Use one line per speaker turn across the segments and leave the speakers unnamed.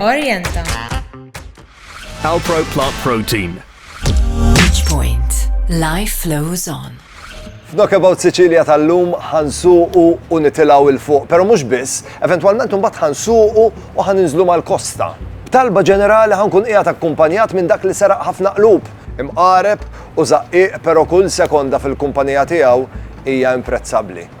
Orienta. Alpro Plant Protein. Each point. Life flows on. F'Dok About Sicilia tal-lum ħansuqu u nitilaw il-fuq, pero mux biss, eventualment un bat ħansuqu u ħaninżlu mal-kosta. B'talba ġenerali ħankun qiegħed akkumpanjat minn dak li seraq ħafna qlub, imqareb u zaqqiq pero kull sekonda fil-kumpanija tiegħu hija imprezzabbli.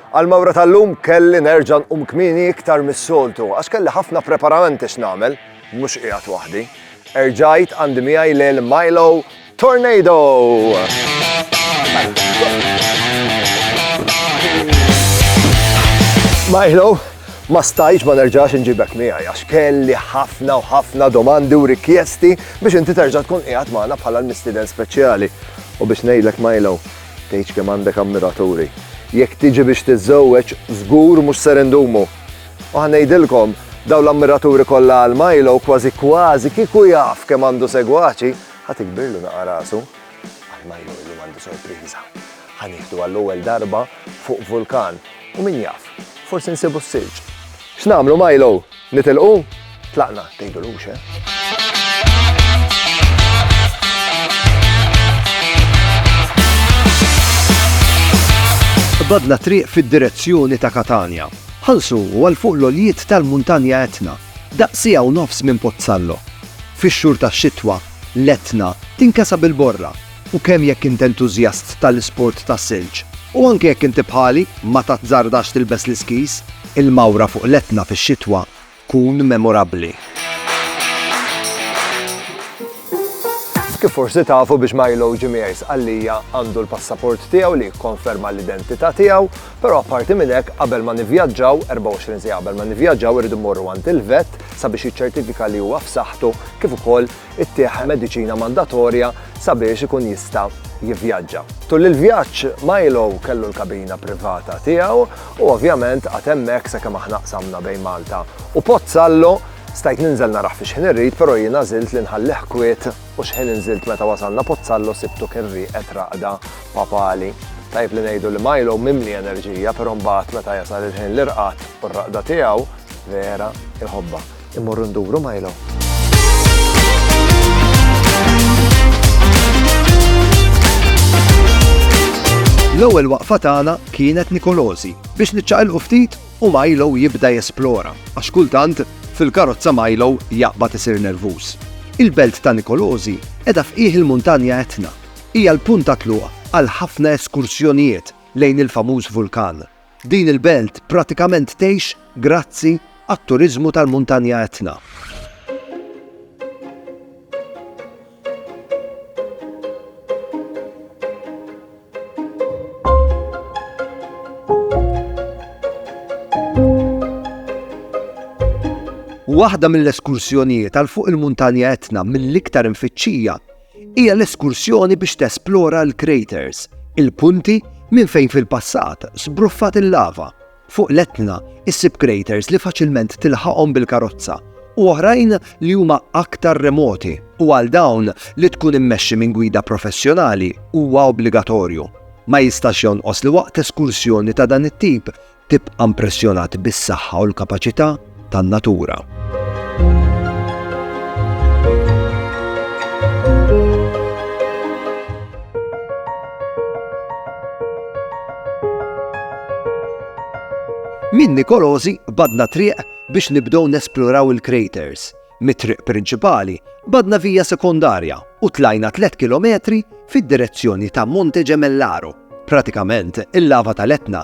Għall-mawra tal-lum kelli nerġa' nqum kmieni iktar mis-soltu għax kelli ħafna preparamenti x'nagħmel, mhux qiegħed waħdi. Erġajt għandi miegħi lil Milo Tornado! Milo, ma stajtx ma nerġax inġibek miegħi għax kelli ħafna u ħafna domandi u rikjesti biex inti terġa' tkun qiegħed magħna bħala l-mistieden speċjali. U biex ngħidlek Milo, Tgħidx kemm għandek ammiraturi. Jekk tiġi biex tiżżewweġ, żgur mhux ser indumu. U ħa ngħidilkom, dawn l-ammiraturi kollha għal Milo kważi kważi kieku jaf kemm għandu segwaċi, ħa tikbirlu naqa' rasu. Għal Milo illum għandu sorpriża. Ħa nieħdu għall-ewwel darba fuq vulkan u min jaf, forsi nsibu s-silġ. X'nagħmlu Milo? Nitilqu? Tlaqna, tgħidulux, eh? badna triq fid-direzzjoni ta' Katanja. Ħalsu u għal fuq l-oljiet tal-muntanja Etna, daqsija u nofs minn Pozzallo. Fix-xhur tax-xitwa, l-Etna tinkesa bil-borra U kemm jekk int entużjast tal-isport tas-silġ, u anke jekk inti bħali ma tazzardax tilbes l-iskis, il-mawra fuq l-Etna fix-xitwa tkun memorabbli. Kif forsi tafu biex Milo Gimiers Scallia għandu l-passaport tiegħu li jikkonferma l-identità tiegħu, però apparti minn hekk qabel ma nivvjaġġaw, 24 siegħa qabel ma nivvjaġġaw irridu mmorru għand il-vet sabiex jiċċertifika li huwa f'saħħtu kif ukoll ittih mediċina mandatorja sabiex ikun jista' jivvjaġġa. Tul il-vjaġġ, Milo kellu l-kabina privata tiegħu u ovvjament qagħad hemmhekk sakemm aħna qsamna bejn Malta u Pozzallo. Stajt ninżel narah fi xħin irrid però jien għażilt li nħallih kwiet u xħin inżilt meta wasalna Pozzallo sibtu kien rieqed raqda papali. Tajjeb li ngħidu li Milo mimli enerġija però mbagħad meta jasal il-ħin l-irqad u r-raqda tiegħu vera jħobbha. immorru nduru Milo. L-ewwel waqfa tagħna kienet Nikolosi biex niċċaqilqu ftit u Milo jibda jesplora għax kultant fil-karozza Milo jaqbad isir nervuż. Il-belt ta' Nikolosi edha fqih il-muntanja Etna. Hija l-punta tluq għal ħafna eskursjonijiet lejn il-famuż vulkan. Din il-belt pratikament tgħix grazzi għat-turiżmu tal-muntanja Etna. Waħda mill-eskursjonijiet għal fuq il-muntanja Etna mill-iktar imfittxija hija l-eskursjoni biex tesplora l-craters, il-punti minn fejn fil-passat sbruffat il-lava. Fuq l-Etna issib craters li faċilment tilħaqhom bil-karozza u oħrajn li huma aktar remoti u għal dawn li tkun immexxi minn gwida professjonali huwa obbligatorju. Ma jistax jonqos li waqt eskursjoni ta' dan it-tip tibqa' impressjonat bis-saħħa u l-kapaċità tan-natura. Minn Nikolosi badna triq biex nibdew nesploraw il-craters. Mit-triq prinċipali badna vija sekondarja u tlajna 3 kilometri fid-direzzjoni ta' Monte Gemellaro. Pratikament, il-lava tal-Etna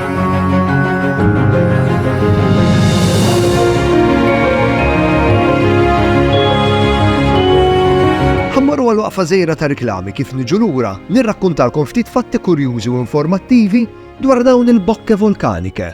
Ħammorru għal waqfa żejra ta' riklami kif niġu lura nirrakkuntalkom ftit fatti kurjużi u informattivi dwar dawn il-bokke volkanike.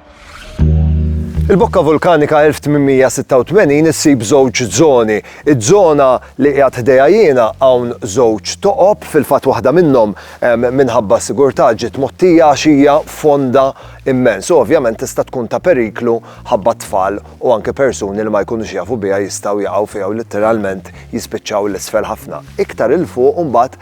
Il-bokka vulkanika 1886 issib żewġ żoni. Iż-żona li qiegħed ħdejha jiena hawn żewġ toqob, fil-fatt waħda minnhom minħabba s-sigurtà ġiet mgħottija għax hija fonda immens u ovvjament tista' tkun ta' periklu ħabba t-tfal u anke persuni li ma jkunux jafu biha jistgħu jaqgħu fiha u litteralment jispiċċaw 'l isfel ħafna. Iktar 'il fuq imbagħad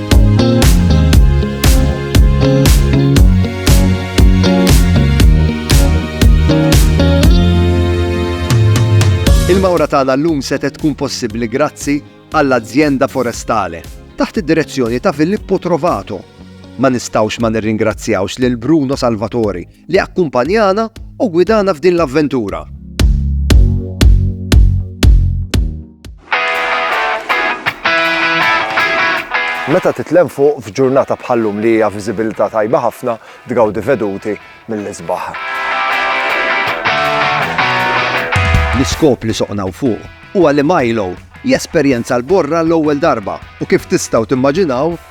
Il-mawra tagħna llum setet tkun possibbli grazzi għall-Azienda Forestale taħt id-direzzjoni ta' Filippo Trovato. Ma nistgħux ma nirringrazzjawx lil Bruno Salvatori li akkumpanjana u gwidana f'din l-avventura. Meta titlem fuq f'ġurnata bħallum li hija viżibilità tajba ħafna tgawdi veduti mill-isbaħ. L-iskop li soqnaw fuq huwa li Milo jesperjenza l-borra l-ewwel darba u kif tistgħu timmaġinaw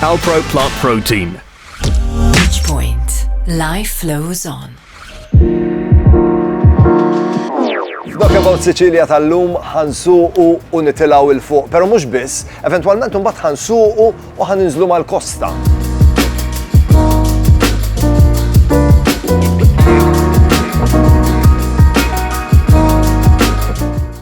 Alpro Plant Protein. Each point, life flows on. Dok about Sicilia tal-lum ħansuqu u nitilaw il-fuq, pero mux biss, eventualment un bat ħansuqu u ħaninżlu mal-kosta.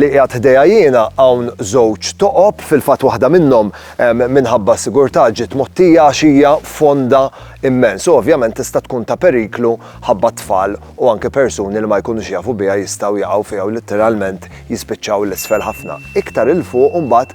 li qiegħed ħdejja jiena hawn żewġ toqob, fil-fatt waħda minnhom minħabba s-sigurtà ġiet mgħottija għax hija fonda immens u ovvjament tista' tkun ta' periklu ħabba t-tfal u anke persuni li ma jkunux jafu biha jistgħu jaqgħu fiha u litteralment jispiċċaw 'l isfel ħafna. Iktar 'il fuq imbagħad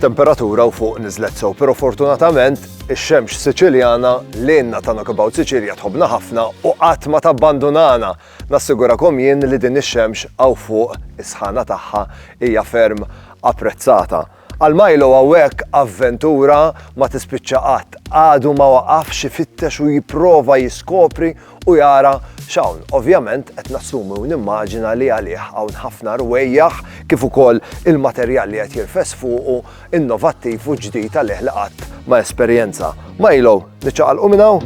temperatura u fuq nizlet sew, pero fortunatament ix-xemx Siċiljana lejna ta' Knockabout Siċilja tħobna ħafna u qatt ma tabbandunana. Nassigurakom jien li din ix-xemx għaw fuq is-sħana tagħha hija ferm apprezzata. Għal Milo hawnhekk avventura ma tispiċċa qatt. Għadu ma waqafx ifittex u jipprova jiskopri u jara x'hawn. Ovvjament qed nassumi u nimmaġina li għalih hawn ħafna rwejjaħ kif ukoll il-materjal li qed jirfes fuqu innovattiv u ġdid għalih li qatt ma esperjenza. Milo Niċċaqalqu minn hawn.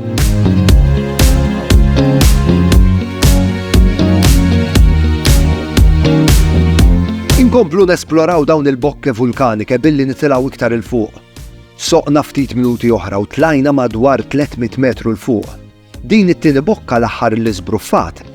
Inkomplu nesploraw dawn il-bokke vulkanike billi nitilaw iktar il-fuq. Soqna ftit minuti oħra u tlajna madwar 300 metru l-fuq. Din it-tieni bokka l-aħħar li zbruffat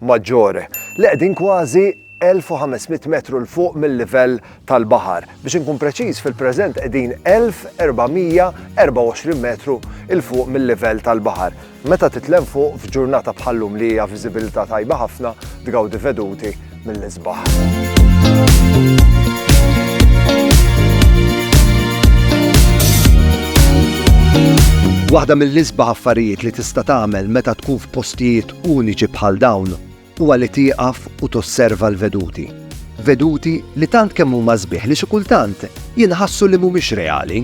Maggiore, li qegħdin kważi 1,500 metru 'l fuq mil-livell tal-baħar. Biex inkun preċiż, fil-preżent qegħdin 1,424 metru 'l fuq mil-livell tal-baħar. Meta titlemm fuq f'ġurnata bħal-lum li hija viżibilità tajba ħafna, tgawdi veduti mill-isbaħ. Waħda mill-isbaħ affarijiet li tista' tagħmel meta tkun f'postijiet uniċi bħal dawn huwa li tieqaf u tosserva l-veduti. Veduti li tant kemm huma sbieħ li xi kultant jinħassu li mhumiex reali.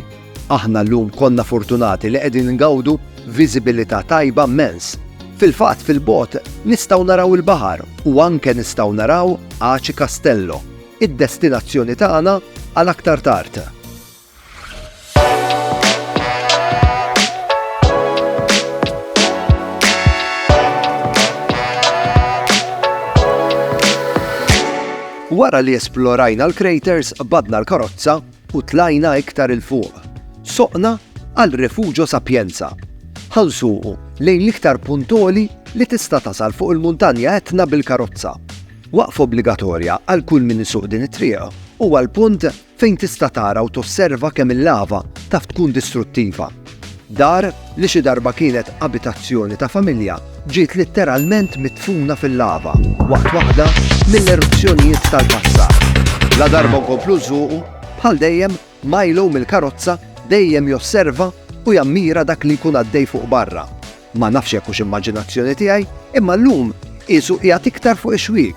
Aħna llum konna fortunati li qegħdin ngawdu viżibilità tajba mmens. Fil-fatt fil-bogħod nistgħu naraw il-baħar u anke nistgħu naraw Aci Castello, id-destinazzjoni tagħna għal aktar tard. Wara li esplorajna l-craters badna l-karozza u tlajna iktar il-fuq. Soqna għal Refugio Sapienza. Ħansuqu lejn l-iktar puntoli li tista' tasal fuq il-muntanja etna bil-karozza. Waqf obbligatorja għal kull min isuq din it-triq u għal punt fejn tista' tara u tosserva kemm il-lava taf tkun distruttiva. Dar li xi darba kienet abitazzjoni ta' familja ġiet litteralment midfuna fil-lava waqt waħda mill-eruzzjonijiet tal-passat. Ladarba nkomplu nsuqu, bħal dejjem Milo mill-karozza dejjem josserva u jammira dak li jkun għaddej fuq barra. Ma nafx jekk hux immaġinazzjoni tiegħi, imma llum qiesu qiegħed iktar fuq ix-xwiek.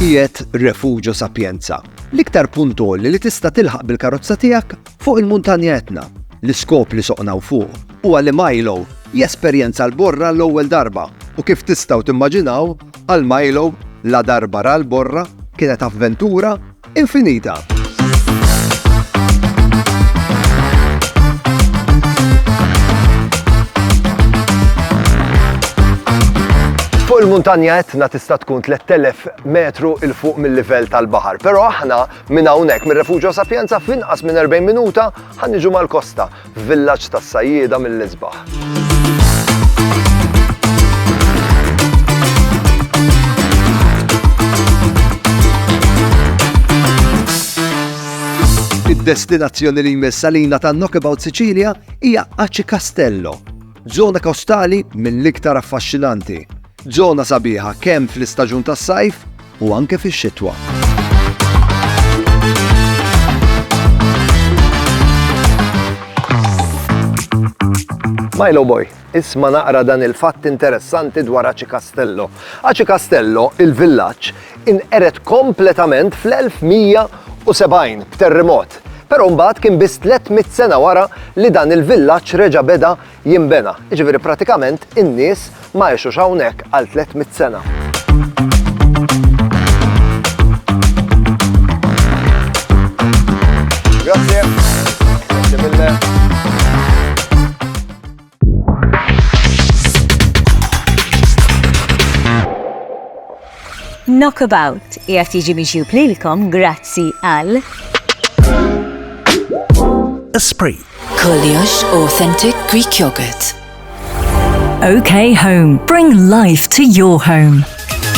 Qiegħed Refugio Sapienza, l-iktar puntoli li tista' tilħaq bil-karozza tiegħek fuq il-muntanja Etna. L-iskop li soqnaw fuq huwa li Milo jesperjenza l-borra l-ewwel darba u kif tistgħu timmaġinaw għal Milo la darba ra l-borra kienet avventura infinita. Fuq il-muntanja etna tista' tkun 3000 metru il fuq mill-livell tal-baħar, però aħna minn hawnhekk mir-Refuġio Sapienza f'inqas minn 40 minuta ħanniġu mal-kosta. F'villaġġ tas-sajjieda mill-isbaħ. Id-destinazzjoni li jmiss għalina ta' Knockabout Sicilia hija Aci Castello, Żona kostali mill-iktar affaxxinanti. Żona sabiħa kemm fl-istaġun tas-sajf u anke fix-xitwa. Milo Boy, isma naqra dan il-fatt interessanti dwar Aci Castello. Aci Castello, il-villaġġ, inqered kompletament fl-1170 b'terrimot, però mbagħad kien biss 300 sena wara li dan il-villaġġ reġa' beda jinbena, jiġifieri pratikament in-nies ma għexux hawnhekk għal 300 sena. Knockabout qiegħed jiġi miġjub lilkom grazzi għal Esprit. Koljox Authentic Greek Yogurt. OK Home. Bring life to your home.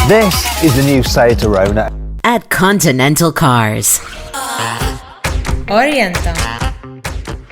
This is the new Seat Arona. At Continental Cars. Orienta.